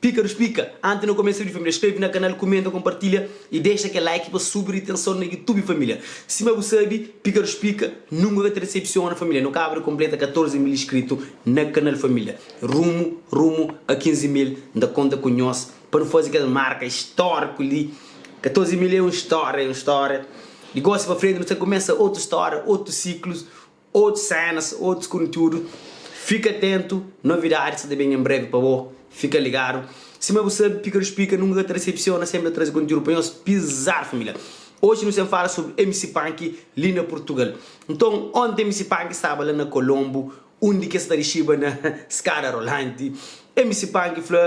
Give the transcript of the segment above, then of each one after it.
Pika nu splika, anti nu komesa udi família skrebe na kanal kumenta konpartilha y dexa kel like pa subi ritenson na youtube família sima bu sabi pika nu splika nunka ka ta desepsiona família nu kaba di konpleta 14 mil iskritu na kanal família rumu rumu a 15 mil n ta konta ku nhos pa nu fazi kel marka istoriku li 14 mil é un storia é un storia di gosi pa frenti nu sta kumesa otu storia otu siklus Otus sénas, otus kontiúdu. Fika atentu, novidadi sta ta ben en breve pa bo. Fika ligadu. Sima bu sabe, Pika Dos Pika nunka ka ta resepsiona, senpri ta traze kontiúdu pa nhos. Pizar família! Oji nu sen fala sobri MC Panky li na Purtugal. Nton, onti MC Panky staba la na Kolonbu, undi ki es ta rixiba na skada rolanti. MC Panky fla.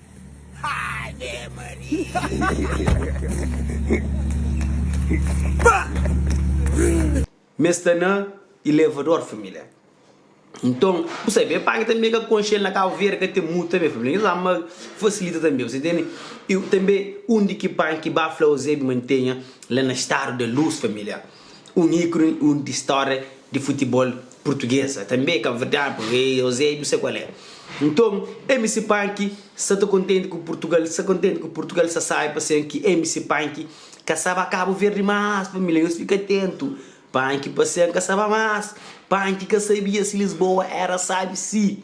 Ave Maria! Mê sta na ilevador família Nton bu sabe Mê panka tanbê ka konxe el Na Kabu Verde ka ten mutu tanbê família Nhos ama fasilita tanbê bu sa intende Tanbê un di ki panka ki ba fla Ozebi mantenha la na stadu da lus família. un íkuni di stória di futibol purtuges. Tanbê é kabverdianu, pamodi é Eusébio, sê kual é. Nton, MC Punk sa ta kontenti ku Purtugal, sa kontenti ku Purtugal, sa sabe pa sen ki MC Punk ka sa ba Kabu Verdi más, família, nhos fika atentu, Punk pa sen ka sa ba más, Punk ka sabia si Lisboa éra sábi si.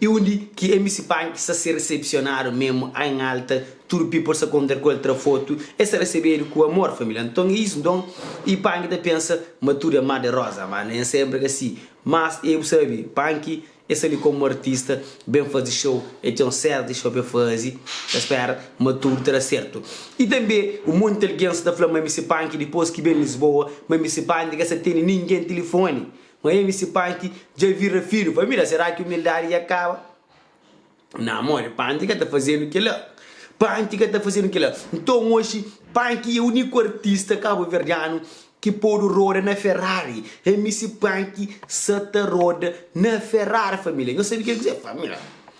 I undi ki MC Panky sa ser resepsionadu memu ain alta tudu people sa konter ku el tra fotu e sa resebedu ku amor família nton e is nton i Panky ta pensa ma tudu e mar de rosa ma nen senpri ka si mas e bu sabi Panky e sa li komu artista ben fazi show e ten un séri di show pa e fazi ta spera ma tudu ta da sertu i tanbe un monti algens ta fla ma MC Panky dipos ki ben Lisboa ma MC Panky ka sa tene ningen tilifoni Ma evi si parti dja vira finu família será ki umildadi dja kaba na modi panti ka ta fazenu kila panti ka ta fazenu kila nton oxi panki é uniku artista kabuverdianu ki podu roda na ferrari emi si panki sa ta roda na ferrari família nhos sabe kil ki é família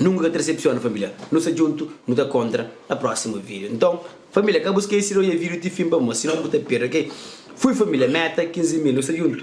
Nunka ka ta desepsiona família nu sta djuntu nu ta kontra na próximo vídeo nton família ka bu skesi de odja vídeo ti fin pamó sinon bu ta perde ok fui família meta 15 mil nu sta djuntu.